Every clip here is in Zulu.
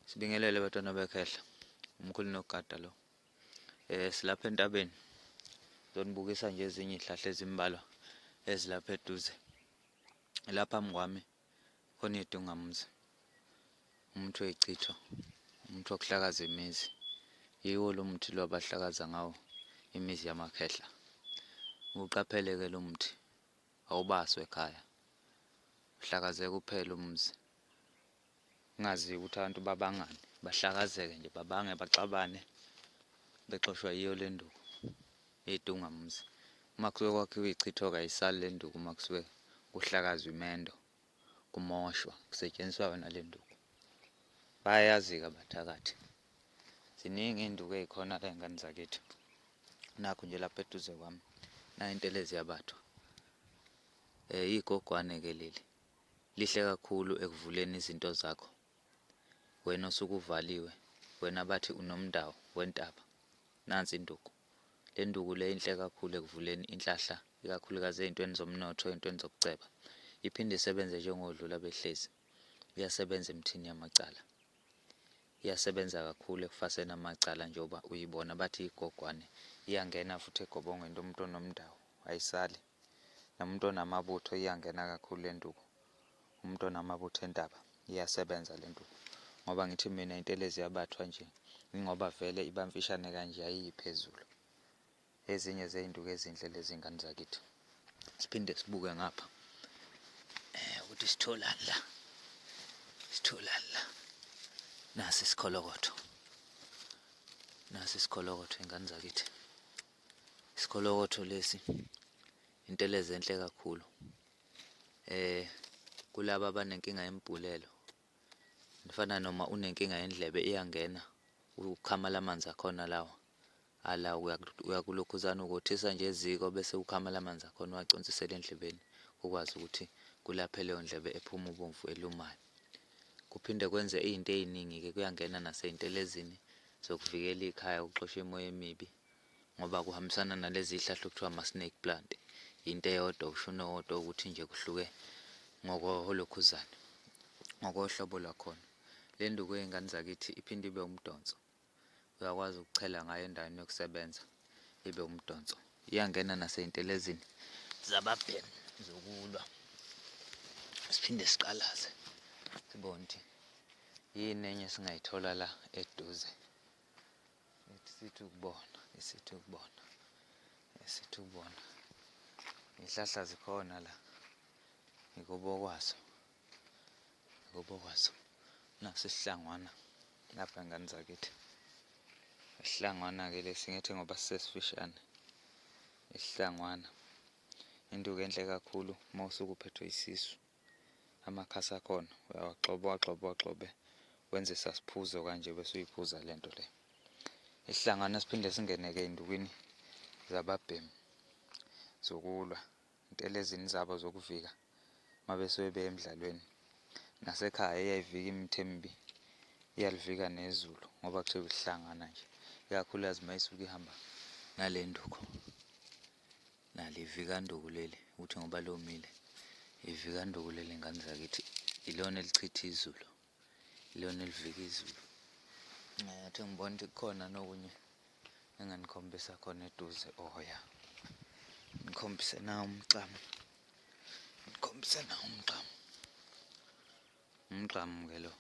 Sibingelele batwana bekhehla. Umkhulu nogada lo. Eh silapha entabeni. Zonibukisa nje ezinye izihlahla ezimbalwa ezilapha eduze. Lapha mngwami khona idungamzi. Umuntu oyichitho. Umuntu okuhlakaza imizi. Yiwo lo muthi lo abahlakaza ngawo imizi yamakhehla. Uqapheleke lo muthi. Awubaswe ekhaya. Uhlakazeke uphele umuzi. Ungazi ukuthi abantu babangani. Bahlakazeke nje babange baxabane. Bexoshwa yiyo le nduku. Idunga muzi. Uma kusuke kwakhiwa ichithoka ayisali le nduku uma kusuke kuhlakazwa imendo. kumoshwa kusetshenziswa yona le nduku. Bayayazi-ke abathakathi. Ziningi iy'nduku ey'khona la y'ngane zakithi. Nakhu nje lapha eduze kwami nayo intelezi yabathwa. Um igogwane-ke leli lihle kakhulu ekuvuleni izinto zakho wena osuke uvaliwe wena bathi unomndawo wentaba nansi induku Le ndukule inhle kakhulu ekuvuleni inhlahla ikakhulukazi ezintweni zomnotho, ezintweni zokuceba. Iphinde isebenze njengohlu labehlezi. Iyasebenza emthini yamacala. Iyasebenza kakhulu ekufaseni amacala njengoba uyibona bathi igogwane. Iyangena futhi egobongweni lomuntu onomndawo, ayisali. Nomuntu onamabutho iyangena kakhulu le nduku. Umuntu onamabutho entaba iyasebenza le nduku. Ngoba ngithi mina intelezi yabathwa nje, yingoba vele iba mfishane kanje ayiyi phezulu. Ezinye zey'nduku ezinhle lezi ngane zakithi. Siphinde sibuke ngapha ukuthi sitholani la. Sitholani la. Nasi isikholokotho. Nasi isikholokotho ingane zakithi. Isikolokotho lesi intelezi enhle kakhulu eh kulaba abanenkinga yembhulelo nifana noma unenkinga yendlebe iyangena ukukhamala amanzi akhona lawa ala uyakulokhuzana ukothisa nje eziko bese ukhamala amanzi akhona uwaconsisela endlebeni ukwazi ukuthi kulaphe leyo ndlebe ephuma ubomvu elumayo kuphinde kwenze izinto eziningi ke kuyangena naseyintelezini zokuvikela ikhaya ukuxosha imoya emibi ngoba kuhambisana nalezi hlahla okuthiwa ama-snake plant yinto eyodwa usho unowodwa ukuthi nje kuhluke ngokoholokhuzana ngokohlobo lwakhona le nduku yey'ngane zakithi iphinde ibe umdonso uyakwazi ukuchela ngayo endaweni yokusebenza ibe umdonso iyangena nasey'ntelezini zababhemu zokulwa siphinde siqalaze sibone ukuthi yini enye singayithola la eduze Sithi ukubona, sithi ukubona, sithi ukubona. Izihlahla zikhona la. Ngikubo kwazo. Ngikubo kwazo. Nasisihlangwana lapha ngane zakithi. Isihlangwana ke lesi ngithi ngoba sisesifishane. Isihlangwana. Induku enhle kakhulu uma usuke uphethwe isisu. amakhasi akhona uyawagxoba uwagxobe uwagxobe wenze sasiphuzo kanje bese uyiphuza le nto le isihlangana siphinde singene-ke ey'ndukwini zababhemu zokulwa intelezini zabo zokuvika uma besuke beye emdlalweni nasekhaya iyayivika imithi emibi iyalivika nezulu ngoba kuthiwa isihlangana nje ikakhulukazi uma isuke ihamba ngale nduku Nali ivikanduku leli ukuthi ngoba lomile. Ivikanduku leli ngane zakithi ilona elichitha izulu. Ilona elivika izulu. Ngathi ngibona ukuthi kukhona nokunye enganikhombisa khona eduze oh ya. Nikhombise na umgqamu. Nikhombise na umgqamu. Umgqamu ke lo.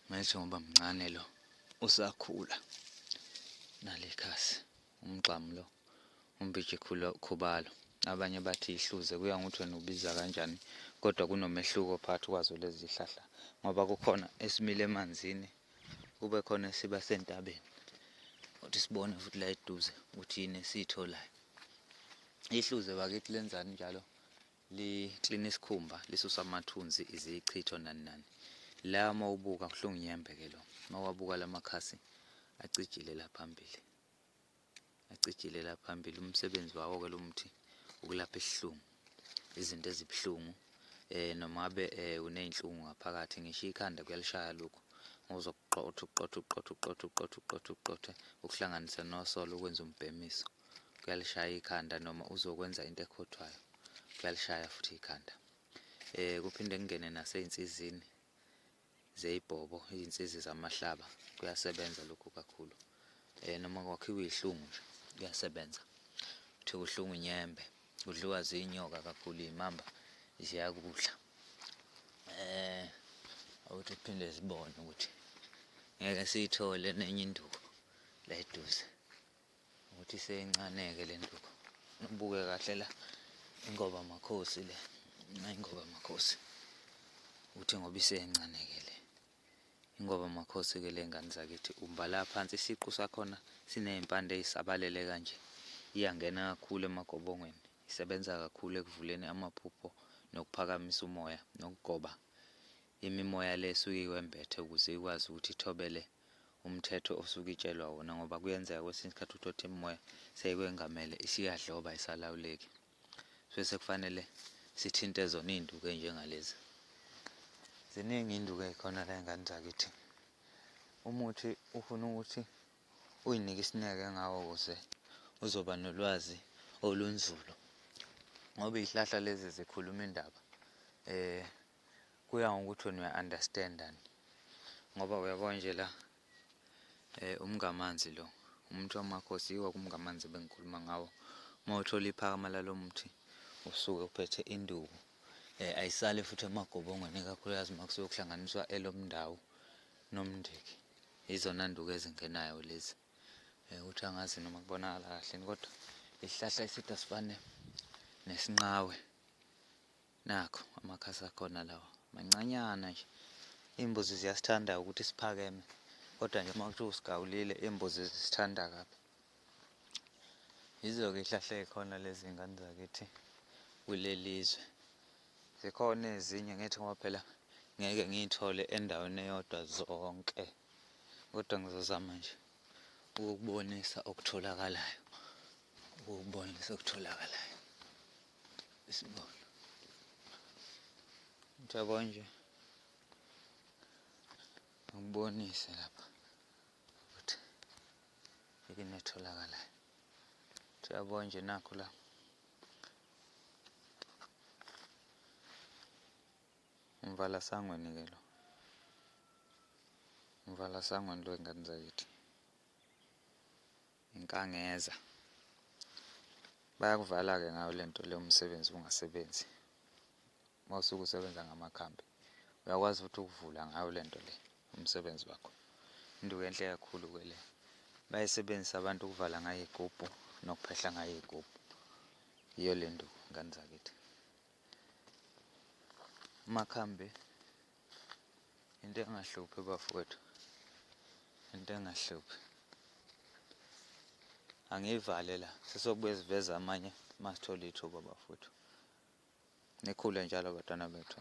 Ngisho ngoba mncane lo usakhula nalekhasi. Umgxamu lo. UMbiji Khubalo. Abanye bathi ihluze kuya ngokuthi wena ubiza kanjani kodwa kunomehluko phakathi kwazo lezi zihlahla ngoba kukhona esimile emanzini kube khona esiba sentabeni. Uthi sibone futhi la eduze ukuthi yini esiyitholayo. Ihluze bakithi lenzani njalo liklina isikhumba lisusa amathunzi izichitho nani nani. La mawubuka kuhlungu nyembe ke lo. Mawabuka lamakhasi acijile la phambili. Acijilela phambili umsebenzi wawo ke lo muthi ukulapha isihlungu, izinto ezibuhlungu eh noma be eh, uneyinhlungu ngaphakathi ngisho ikhanda kuyalishaya lokho ngozokuqotha uqotha uqotha uqotha uqotha uqotha uqotha ukuhlanganisa nosolo ukwenza umbhemiso kuyalishaya ikhanda noma uzokwenza into ekhothwayo kuyalishaya futhi ikhanda eh kuphinde kungene naseynsizini zeyibhobo izinsizi zamahlaba kuyasebenza lokhu kakhulu eh noma kwakhiwa ihlungu nje kuyasebenza uthi uhlungu inyembe udliwa zinyoka kakhulu imamba ziyakudla eh awuthi phinde sibone ukuthi ngeke siyithole nenye induku la eduze Ukuthi seyincaneke le nduku. Ubuke kahle la ingoba makhosi le. Ingoba makhosi. Uthi ngoba iseyancaneke le. Ingoba makhosi ke le ngane zakithi umbala phansi isiqu sakhona sinezimpande ezisabalele kanje. Iyangena kakhulu emagobongweni. Isebenza kakhulu ekuvuleni amaphupho nokuphakamisa umoya nokugoba imimoya le esuke iwembethe ukuze ikwazi ukuthi ithobele umthetho osuke itshelwa wona ngoba kuyenzeka kwesinye isikhathi uthothe imimoya seyikwengamele isiyadloba isalawuleki so sekufanele sithinte zona iy'nduku ey'njengalezi ziningi iy'nduku ey'khona la ey'ngane zakithi umuthi ufuna ukuthi uyinike isineke ngawo kuze uzoba nolwazi olunzulu ngoba iy'hlahla lezi zikhuluma indaba um Kuya ngokuthi wena uya understand ni. Ngoba uyabo nje la eh umngamanzi lo. Umuntu wamakhosi yiwo kumngamanzi ebengikhuluma ngawo. Uma uthola iphakama lalomuthi usuke uphethe induku. Eh ayisale futhi emagobongweni kakhulukazi makusuke kuhlanganiswa elomndawo nomndiki. Izona nduku ezingenayo lezi. Eh uthi angazi noma kubonakala kahle kodwa isihlahla esithi asifane nesinqawe. Nakho amakhasi akhona lawa mancanyana nje. Iy'mbuzi ziyasithanda ukuthi siphakeme kodwa nje uma kuthiwa usigawulile iy'mbuzi zisithanda kabi. Yizo-ke iy'hlahla ey'khona lezi ngane zakithi kuleli zwe. Zikhona ezinye ngithi ngoba phela ngeke ngiy'thole endaweni eyodwa zonke kodwa ngizozama nje ukukubonisa okutholakalayo, ukukubonisa okutholakalayo. Isibona. Mthabo nje. Ngibonise lapha ukuthi yini etholakalayo. Mthabo nje nakho la. Umvala sangweni ke lo. Umvala sangweni lo ingane zakithi. Nkangeza. Bayakuvala ke ngayo lento le umsebenzi ungasebenzi. Mawusuke usebenza ngamakhambi uyakwazi futhi ukuvula ngayo lento le umsebenzi wakho. Into enhle kakhulu ke le. Bayisebenzisa abantu ukuvala ngayo igubhu nokuphehla ngayo igubhu. Yiyo lento ngane zakithi. Amakhambi into engahluphi bafowethu into engahluphi angiyivale la sesokubuye siveze amanye masithola ithuba bafowethu nikhule njalo batwana bethu